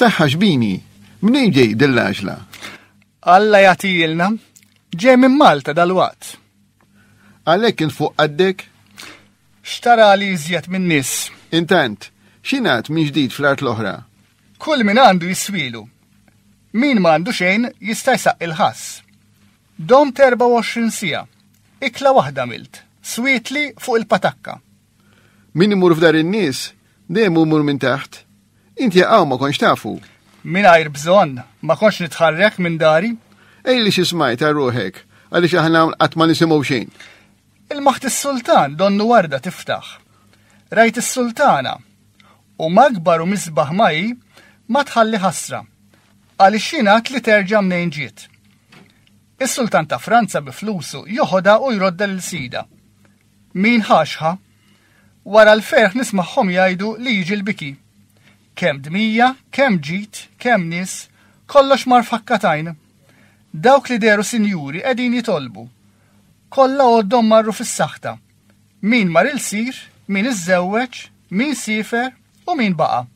Saħħa xbini, minn ġej dill-għaġla? Alla jagħtijilna, ġej minn Malta dal-waqt. Għalhekk kien fuq qaddek? Xtara li iżjed minn nies. Intant, xinat minn ġdid fl-art l-oħra? Kull min għandu jiswielu. Min ma għandu xejn jista' jsaqqi l-ħass. Domt 24 siegħa. Ikla waħda għamilt. Swietli fuq il-patakka. Min imur f'dar in-nies dejjem imur minn taħt. Inti jaqgħu ma konx tafu. Mingħajr bżonn ma konx nitħarrek minn dari. Ejli xi smajt għal ruħek għaliex aħna qatt ma nisimgħu xejn. Ilmaħt is-sultan donnu warda tiftaħ. Rajt is-sultana, u magbar u misbaħ ma hi, ma tħalli ħasra, għaliex jingħad li terġa' mnejn ġiet. Is-sultan ta' Franza bi flusu joħodha u jrodda lil sida. Min ħaxħa? Wara l-ferħ nismagħhom jgħidu li jiġi l-biki. Kemm dmija, kemm ġid, kemm nies, kollox mar fakkatajn. Dawk li deru sinjuri qegħdin jitolbu Kollha għoddhom marru fis-saħta. Min mar il-sir, min iżżewweġ, min siefer u min baqa'.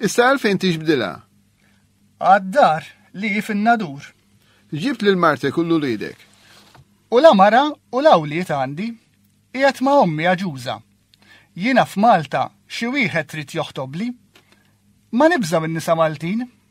Issa għalfejn tixbdilha? Għad-dar li hi fin-Nadur. Ġibt lil martek u l-uliedek. U la mara u la wlied għandi. Qiegħed ma' ommi aġuża. Jiena f'Malta xi wieħed trid joħtobli. Ma nibża' min-nisa Maltin.